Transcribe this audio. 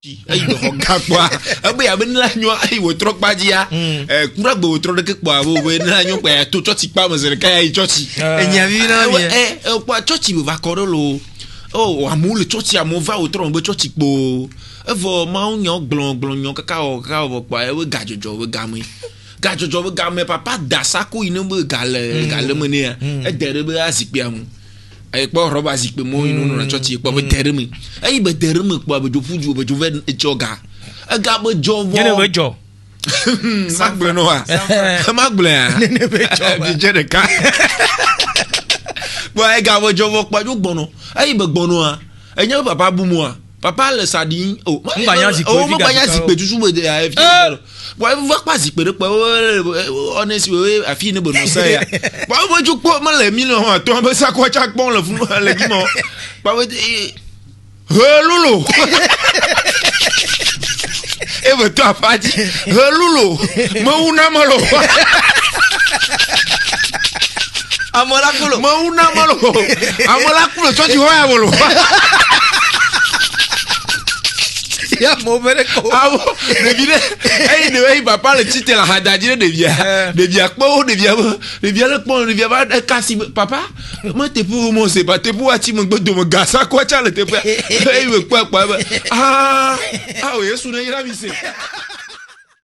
eyi me xɔ gã kpɔa ebe yabe ne la nyɔ eyi wòtrɔ kpa dzia kura gbe wòtrɔ ɖeke kpɔa abo be ne la nyɔ kpa ya to tsɔtsi kpa me zi ɖeka ya yi tsɔtsi. enya vi na mi ɛ ɛ kpɔa tsɔtsi me va kɔ ɖe lo o amewo le tsɔtsi amewo va wòtrɔ megbe tsɔtsi kpo evɔ mawu nyɔ gblɔ gblɔ nyɔ kaka wɔ kaka wɔ kpɔa ebe gadzɔdzɔ be game gadzɔdzɔ be game papa da sako yi ne be gale gale me nɛ ya ede ɖe be azikpuia me. Eyi kpɔ rɔba zikpui mɔ yi nɔnɔ tsɔ tsi kpɔ be de ɖe mi. Eyi be de ɖe mi kpɔ be dzo ƒu ju be dzo ve etsɔ ga. Ega be dzɔ vɔ. Nyene be dzɔ. Ma gblɔ no wa. Ma gblɔ ya. Nyene be dzɔ. Bi dze ɖeka. Bo ega be dzɔ vɔ kpɔ dzo gbɔnɔ. Eyi be gbɔnɔ a. Enye papa bu mo a. Papa le sa ɖim o. Oh, Ŋgba nya zikpui oh, Ŋgba nya zikpui tutu me de ayi fi. Bɔn ebi va kpa zikpui ɖe kpe o ɔne si o afi ne be nɔ sa ya. Bɔn ebi dzo kpɔ me le mi le hɔn atɔ be sakɔ tsa kpɔ le funu le dzi mɔ. Bɔn ebi he lolo. eve to aƒa dzi helulo mewu na melo ame la kulo mewu na melo ame la kulo tsɔ dzi hɔ ya melo ya mo bere ko awo ɖevi ɖe eyi ɖe eyi papa le tsitre le ahadadzi ɖe ɖevia eh. ɖevia kpɔ wo ɖevia be ɖevia le kpɔ ɖevia va ɖe kasi papa Ema teƒe wo Mose ba teƒe wo atsi megbe dome gasa kɔ tsa le teƒea. Eyi me kpɔ akpa be aa, ao Yesu ne yra mi se.